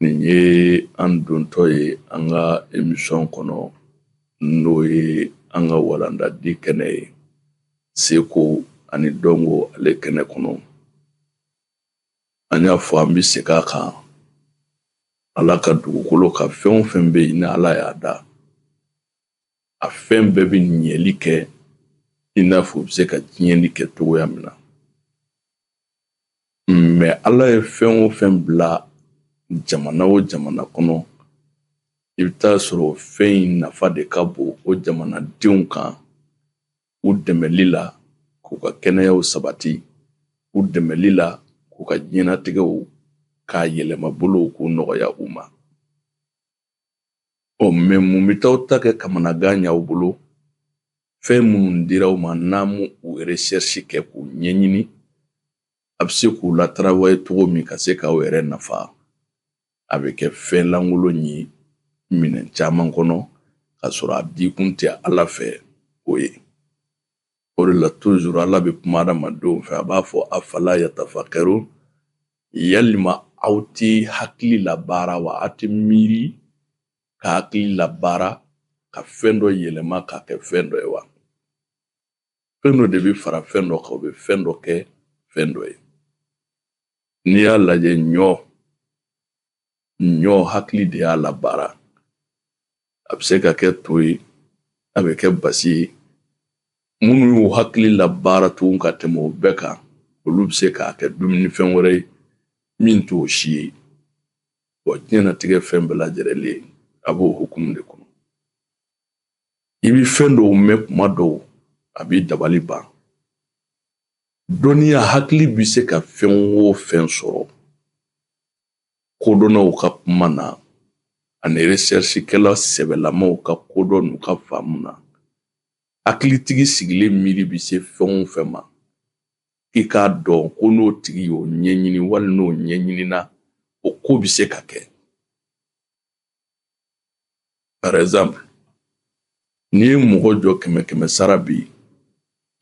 nin ye an dontɔ ye an ka emisɔn kɔnɔ n'o ye an ka walandadi kɛnɛ ye seko ani dɔnko ale kɛnɛ kɔnɔ an y'a fɔ an bɛ se a kan ala ka dugukolo ka fɛn o fɛn bɛ yen ni ala y'a da a fɛn bɛɛ bɛ ɲɛli kɛ i n'a fɔ u bɛ se ka tiɲɛni kɛ cogoya min na mɛ ala ye fɛn o fɛn bila jamana o jamana kɔnɔ i bɛ t'a sɔrɔ fɛn in nafa de ka bon o jamanadenw kan u dɛmɛli la k'u ka kɛnɛyaw sabati u dɛmɛli la k'u ka diɲɛnatigɛw k'a yɛlɛmabolo k'u nɔgɔya u ma ɔ mɛ mun bɛ t'aw ta kɛ kamanagan y'aw bolo fɛn minnu dira aw ma n'aw m'u recherche kɛ k'u ɲɛɲini a bɛ se k'u latarawaye cogo min ka se k'aw yɛrɛ nafa a bɛ kɛ fɛn lankolon ye minɛn caman kɔnɔ ka sɔrɔ a dikun tɛ ala fɛ o ye o de la toujours ala bɛ kuma adamadenw fɛ a b'a fɔ afala yatafakɛro yalima aw tɛ hakili labaara wa aw tɛ miiri ka hakili labaara ka fɛn dɔ yɛlɛma k'a kɛ fɛn dɔ ye wa fɛn dɔ de bɛ fara fɛn dɔ kan o bɛ fɛn dɔ kɛ fɛn dɔ ye n'i y'a lajɛ ɲɔ ɲɔ hakili de y'a labaara a bɛ se ka kɛ to ye a bɛ kɛ basi ye minnu y'u hakili labaara tugun ka tɛmɛ o bɛɛ kan olu bɛ se k'a kɛ dumunifɛn wɛrɛ ye min t'o si ye wa diɲɛnatigɛ fɛn bɛɛ lajɛrɛlen a b'o hukumu de kɔnɔ i bi fɛn dɔw mɛn kuma dɔw a b'i dabali ban dɔnniya hakili bɛ se ka fɛn o fɛn sɔrɔ kodɔnnaw ka kuma na ani resɛrisikɛla sɛbɛlamaw ka kodɔn n'u ka faamu na hakilitigi sigilen miiri bɛ se fɛn o fɛn ma k'i k'a dɔn ko n'o tigi y'o ɲɛɲini wali n'o ɲɛɲinina o ko bɛ se ka kɛ par exemple n'i ye mɔgɔ jɔ kɛmɛ kɛmɛ sara bi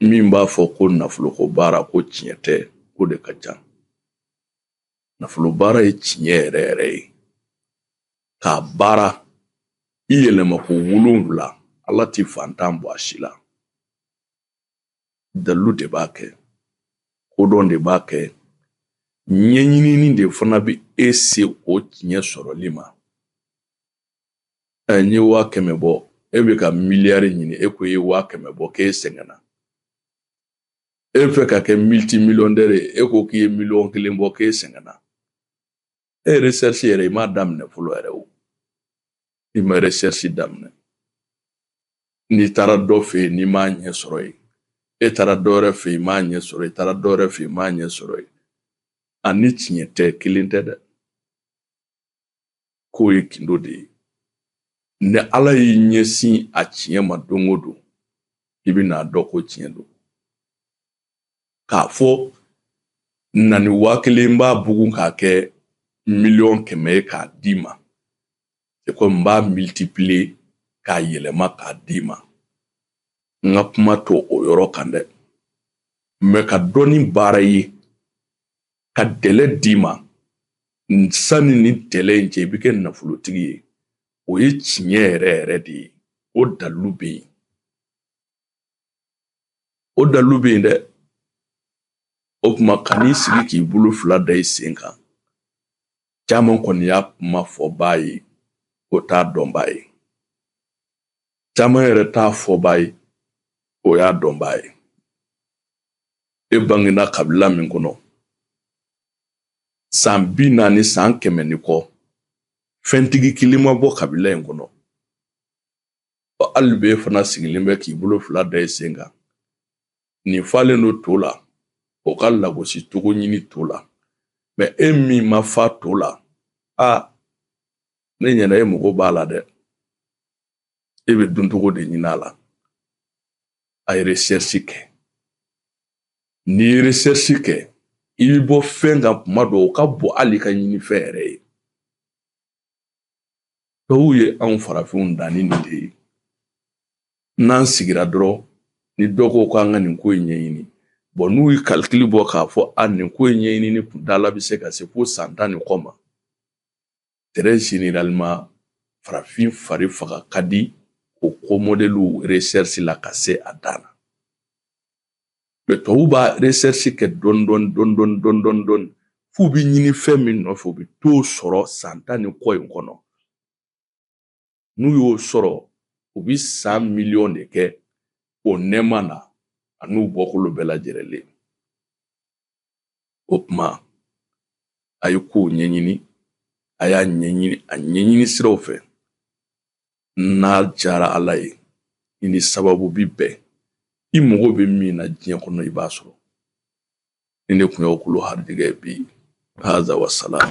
min b'a fɔ ko nafoloko baara ko tiɲɛ tɛ ko de ka ca nafolo baara ye tiɲɛ yɛrɛ yɛrɛ ye k'a baara i yɛlɛma ko wolonwula ala ti fantan bɔ a si la dalilu de b'a kɛ kodɔn de b'a kɛ ɲɛɲinini de fana bɛ e se o tiɲɛ sɔrɔli ma n ye waa kɛmɛ bɔ e bɛ ka miliyari ɲini e ko i ye waa kɛmɛ bɔ k'e sɛgɛnna e bɛ fɛ ka kɛ militimiliyɔndɛri ye e ko k'i ye miliyɔn kelen bɔ k'e sɛgɛnna e recherche yɛrɛ i m'a daminɛ fɔlɔ yɛrɛ o i ma recherche daminɛ n'i taara dɔ fɛ yen n'i m'a ɲɛ sɔrɔ yen e taara dɔ wɛrɛ fɛ yen i m'a ɲɛ sɔrɔ yen i taara dɔ wɛrɛ fɛ yen i m'a ɲɛ sɔrɔ yen a ni tiɲɛ tɛ kelen tɛ dɛ k'o ye gindo de ye ni ala y'i ɲɛsin a tiɲɛ ma don o don i bɛ n'a dɔn ko tiɲɛ don k'a fɔ na ni waa kelen b'a bugun k'a kɛ miliyɔn kɛmɛ ye k'a d'i ma c'est comme n b'a multiplier k'a yɛlɛma k'a d'i ma n ka kuma t'o yɔrɔ kan dɛ mais ka dɔnni baara ye ka délai d'i ma sani ni délai in cɛ i bɛ kɛ nafolotigi ye o ye tiɲɛ yɛrɛ yɛrɛ de ye o dalilu bɛ yen o dalilu bɛ yen dɛ o tuma kan'i sigi k'i bolo fila da i sen kan caman kɔni y'a kuma fɔbaa ye o t'a dɔnbaa ye caman yɛrɛ t'a fɔbaa ye o y'a dɔnbaa ye e bangena kabila min kɔnɔ san bi naani san kɛmɛ ni kɔ fɛntigi kelen ma bɔ kabila in kɔnɔ ɔ hali b'e fana sigilen bɛ k'i bolo fila da i sen kan nin falen don to la o ka lagosi cogo ɲini to la mais e min ma fa to la a ne ɲɛna e mago b'a la dɛ e bɛ duncogo de ɲini a la a ye recherche kɛ n'i ye recherche kɛ i bɛ bɔ fɛn kan kuma dɔw o ka bon hali ka ɲinifɛn yɛrɛ ye tubabuw ye anw farafinw dan ni nin de ye n'an sigira dɔrɔn ni dɔ ko k'an ka nin ko in ɲɛɲini bon n'u ye calcul bɔ k'a fɔ a nin ko in ɲɛɲinini kundala bɛ se ka se fo san tan ni kɔ ma très généralement farafin fari faga ka di o ko mɔdɛliw recherche la ka se a dan na mais tɔw b'a recherche kɛ dɔɔni dɔɔni dɔɔni dɔɔni dɔɔni dɔɔni dɔɔni f'u bɛ ɲinifɛn min nɔfɛ u bɛ t'o sɔrɔ san tan ni kɔ in kɔnɔ n'u y'o sɔrɔ u bɛ san miliyɔn de kɛ o nɛɛma na an'u bɔkolo bɛɛ lajɛlen o kuma a ye kow ɲɛɲini a y'a ɲɛɲini a ɲɛɲini siraw fɛ n'a jara ala ye i ni sababu bi bɛn i mago bɛ min na diɲɛ kɔnɔ i b'a sɔrɔ nin de tun y'aw kulo harijɛgɛ bi haza wasalam